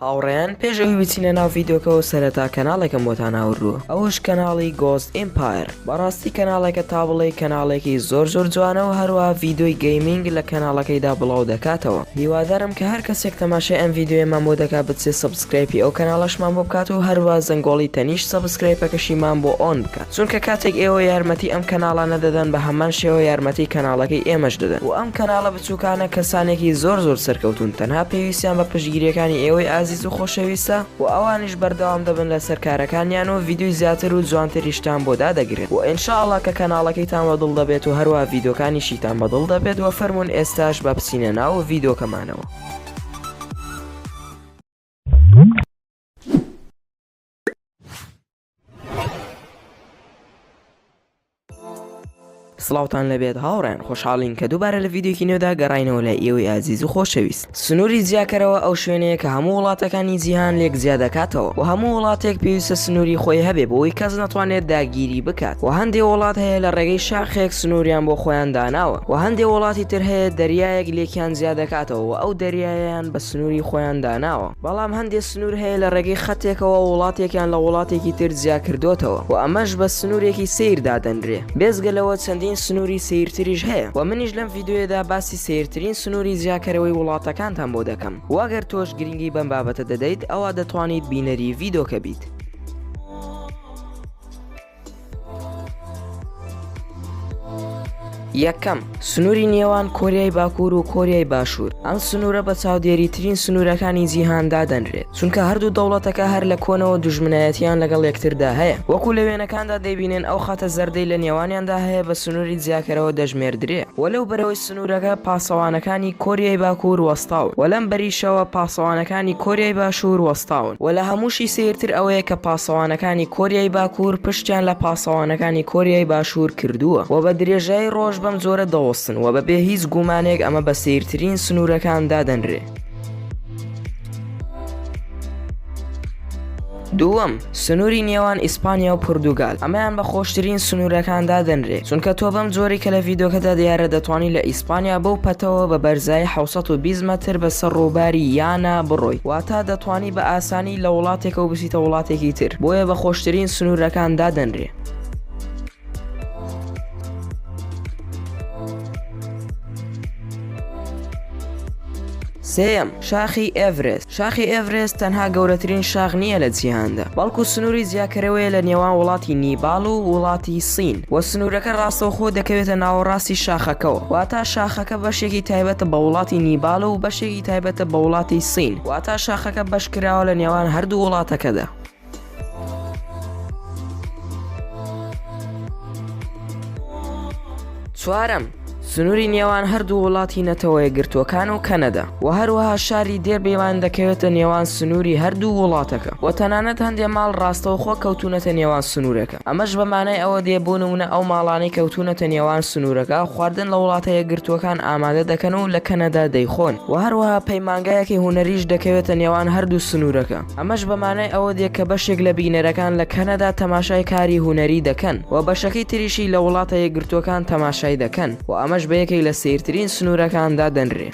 هاوڕێیان پێش ئەوی بچینە ناو ڤیدۆکەوە سەرەتا کەناڵێکم بۆتان ئاوردووە ئەوەش کەناڵی گۆست ئیمپایر بەڕاستی کەناڵێکە تا بڵێی کەناڵێکی زۆر زۆر جوانەوە هەروە ڤیدۆی گەیمینگ لە کەناڵەکەیدا بڵاو دەکاتەوە هیوادارم کە هەر کەسێک تەماشای ئەم ڤیدۆیەمان بۆ دەکا بچێ سەبسکرایپی ئەو کەناڵەشمان بۆ بکات و هەروە زەنگۆڵی تەنیشت سەبسکرایپەکەشیمان بۆ ئۆن بکات. چونکە کاتێک ئێوە یارمەتی ئەم کەناڵانە دەدەن بە هەمان شێوە یارمەتی کەناڵەکەی ئێمەش دەدەن وە ئەم کەناڵە بچوکانە کەسانێکی زۆر زۆر سەرکەوتون تەنها پێویستیان بە پشتگیریەکانی ئێوەی ئازیز و خۆشەویستە وە ئەوانیش بەردەوام دەبن لەسەر کارەکانیان و ڤیدیۆی زیاتر و جوانتریشتان بۆ دادەگرن وە ان شاء اللە کە کەناڵەکەیتان وە دڵ دەبێت و هەروا ڤیدۆکانیشیتان بە دڵ دەبێت وە فەرمون ئێستاش با بچینە ناو ڤیدۆکەمانەوە. سڵاوتان لەبێت هاوڕێن خۆشحاڵین کە دووبارە لە یددیوکی نوێدا گەڕینەوە لە ئێوەی ئازیز و خۆشەویست سنووری جیاکەرەوە ئەو شوێنەیە کە هەموو وڵاتەکانی جیهان لێک زیاد دەکاتەوە و هەموو وڵاتێک پێویستە سنووری خۆی هەبێ بۆی کەس ناتوانێت داگیری بکات و هەندێک وڵات هەیە لە ڕێگەی شاخێک سنووریان بۆ خۆیان داناوە و هەندێک وڵاتی تر هەیە دەریایەک لێکیان زیاد دەکاتەوە و ئەو دەریایەیان بە سنووری خۆیان داناوە بەڵام هەندێک سنوور هەیە لە ڕێگەی خەتێکەوە وڵاتێکیان لە وڵاتێکی تر جیا کردۆتەوە و ئەمەش بە سنوورێکی سەیر دادەنرێ بێزگە لەوە چەندین سنووری سەیرتریش هەیە وە منیش لەم ڤیدۆیەدا باسی سەیرترین سنووری جیاکەرەوەی وڵاتەکانتان بۆ دەکەم وە گەر تۆش گرینگی بەم بابەتە دەدەیت ئەوا دەتوانیت بینەری ڤیدۆکە بیت. یەکەم، سنووری نێوان کۆریای باکوور و کۆریای باشوور ئەم سنوورە بە چاودێری ترین سنوورەکانی جیهان دادەنرێت چونکە هەردوو دەوڵەتەکە هەر لە کۆنەوە دوژمنایەتیان لەگەڵ یەکتردا هەیە وەکو لە وێنەکاندا دەیبینێن ئەو خاتە زەردەی لە نێوانیاندا هەیە بە سنووری جیاکەرەوە دەژمێردرێ و لەو بەرەوەی سنوورەکە پاسەوانەکانی کۆریای باکوور وەستاون و لەم بەریشەوە پاسەوانەکانی کۆریای باشوور وەستاون و لە هەمووشی سەیرتر ئەوەیە کە پاسەوانەکانی کۆریای باکوور پشتیان لە پاسەوانەکانی کۆریای باشوور کردووە و بە درێژایی ڕۆژ بەم جۆرە دەوەستن و بەبێ هیچ گومانێک ئەمە بە سەیرترین سنوورەکان دادەنرێ. دووەم، سنووری نێوان ئیسپانیا و پورتوگال، ئەمەیان بە خۆشترین سنوورەکان دادەنرێ، چونکە تۆ بەم جۆرەی کە لە ڤیدۆکەدا دیارە دەتوانی لە ئیسپانیا بەو پەتەوە بە بەرزایی حەوت سەد و بیست مەتر بە سەر ڕووباری یانا بڕۆی، واتە دەتوانی بە ئاسانی لە وڵاتێکەوە بچیتە وڵاتێکی تر، بۆیە بە خۆشترین سنوورەکان دادەنرێ. سێم شاخی ئێڤرست شاخی ئێڤرست تەنها گەورەترین شاخ نییە لە جیهاندا بەڵکو سنووری جیاکەرەوەیە لە نێوان وڵاتی نیباڵ و وڵاتی سین و سنوورەکە ڕاستەوخۆ دەکەوێتە ناوەڕاستی شاخەکەەوە واتا شاخەکە بەشێکی تایبەتە بە وڵاتی نیباڵ و بەشێکی تایبەتە بە وڵاتی سین واتا شاخەکە بەشکراوە لە نێوان هەردوو وڵاتەکەدا. چوارەم، سنووری نێوان هەردوو وڵاتی نەتەوە یەکگرتووەکان و کەنەدا و هەروەها شاری دێربیوان دەکەوێتە نێوان سنووری هەردوو وڵاتەکە و تەنانەت هەندێ ماڵ ڕاستەوخۆ کەوتونەتە نێوان سنوورەکە ئەمەش بە مانای ئەوە دێ بۆ نموونە ئەو ماڵانەی کەوتونەتە نێوان سنوورەکە خواردن لە وڵاتە یەکگرتووەکان ئامادە دەکەن و لە کەنەدا دەیخۆن و هەروەها پەیمانگایەکی هونەریش دەکەوێتە نێوان هەردوو سنوورەکە. ئەمەش بە مانای ئەوە دێ کە بەشێک لە بینەرەکان لە کەنەدا تەماشای کاری هونەری دەکەن و بەشەکەی تریشی لە وڵاتە یەکگرتووەکان تەماشای دەکەن و ئەمەش بە یەکێک لە سەیرترین سنوورەکان دادەنرێ.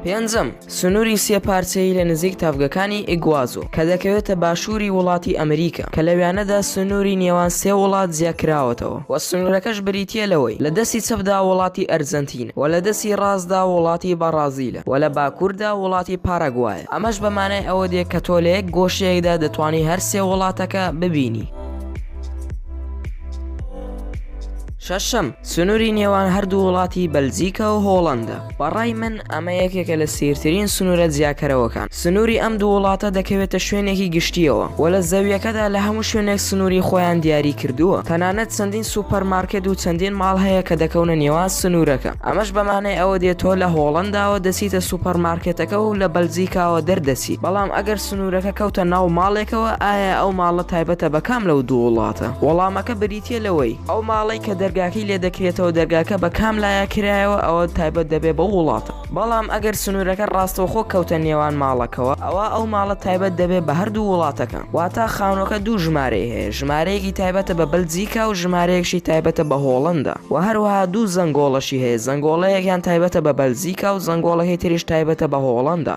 پێنجەم، سنووری سێ پارچەیی لە نزیک تەڤگەکانی ئیگوازۆ کە دەکەوێتە باشووری وڵاتی ئەمریکا کە لەویانەدا سنووری نێوان سێ وڵات جیاکراوەتەوە. و سنوورەکەش بریتییە لەوەی لە دەستی چەپدا وڵاتی ئەرجەنتینە و لە دەستی ڕاستدا وڵاتی بەڕازیلە و لە باکووردا وڵاتی پاراگوایە، ئەمەش بە مانای ئەوە دێ کە تۆ لە یەک گۆشەیەکدا دەتوانی هەر سێ وڵاتەکە ببینی. شەشەم، سنووری نێوان هەردوو وڵاتی بەلجیکا و هۆڵەندا. بە ڕای من ئەمە یەکێکە لە سیرترین سنوورە جیاکەرەوەکان سنووری ئەم دوو وڵاتە دەکەوێتە شوێنێکی گشتیەوە و لە زەویەکەدا لە هەموو شوێنێک سنووری خۆیان دیاری کردووە تەنانەت چەندین سوپەر مارکێت و چەندین ماڵ هەیە کە دەکەونە نێوان سنوورەکە ئەمەش بەمانەی ئەوە دێت تۆ لە هۆڵنداوە دەچیتە سوپەر مارکێتەکە و لە بەلجیکاوە دەردەچیت بەڵام ئەگەر سنوورەکە کەوتە ناو ماڵێکەوە ئایا ئەو ماڵە تایبەتە بە کام لەو دوو وڵاتە وەڵامەکە بریتیە تیە لەوەی ئەو ماڵەی کە دەرگاکەی لێ دەکرێتەوە دەرگاکە بە کام لایە کرایەوە ئەوە تایبەت دەبێت بەو وڵاتە بەڵام ئەگەر سنوورەکە ڕاستەوخۆ کەوتە نێوان ماڵەکەوە ئەوا ئەو ماڵە تایبەت دەبێت بە هەردوو وڵاتەکە واتا خانووەکە دوو ژمارەی هەیە ژمارەیەکی تایبەتە بە بەلجیکا و ژمارەیەکشی تایبەتە بە هۆڵەندا وە هەروەها دوو زەنگۆڵەشی هەیە زەنگۆڵەیەکیان تایبەتە بە بەلجیکا و زەنگۆڵەکەی تریش تایبەتە بە هۆڵەندا.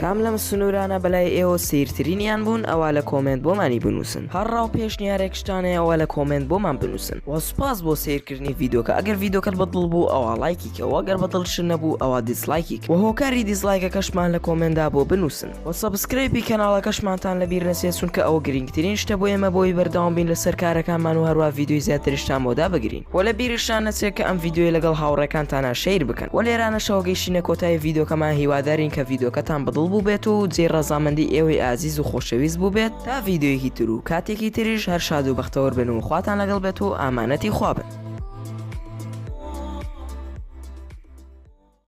کام لەم سنورانە بەلای ئێوە سەیرترینیان بوون ئەوا لە کۆمێنت بۆمانی بنووسن هەر ڕاو پێشنیارێکشتانەیە ئەوە لە کۆمێنت بۆمان بنووسن وە سوپاس بۆ سەیرکردنی ڤیدۆکە ئەگەر ڤیدۆکەت بە دڵ بوو ئەوا ڵایکی کە وە گەر بە دڵ شت نەبوو ئەوا دیسڵایکی کە وە هۆکاری دیسڵایکەکەشمان لە کۆمێندا بۆ بنووسن وە سەبسکرەیپی کەناڵەکەشمانتان لە بیر نەچێت چونکە ئەوە گرینگترین شتە بۆ ئێمە بۆ ئەوی بەردەوام بین لەسەر کارەکانمان و هەروا ڤیدۆی زیاترشتان بۆ دابگرین. وە لە بیرشتان نەچێ کە ئەم ڤیدیۆیە لەگەڵ هاوڕێکانتانا شەیر بکەن وە لێرانەشەوە گەیشتینە کۆتایی ڤیدۆکەمان هیوادارین کە ڤیدۆکەتان بەدڵ بووبێت و جێی ڕەزامەندی ئێوەی ئازیز و خۆشەویست بووبێت تا ڤیدیۆیەکی تر و کاتێکی تریش هەر شاد و بەختەوەر بن و خواتان لەگەڵ بێت و ئامانەتی خوا بن.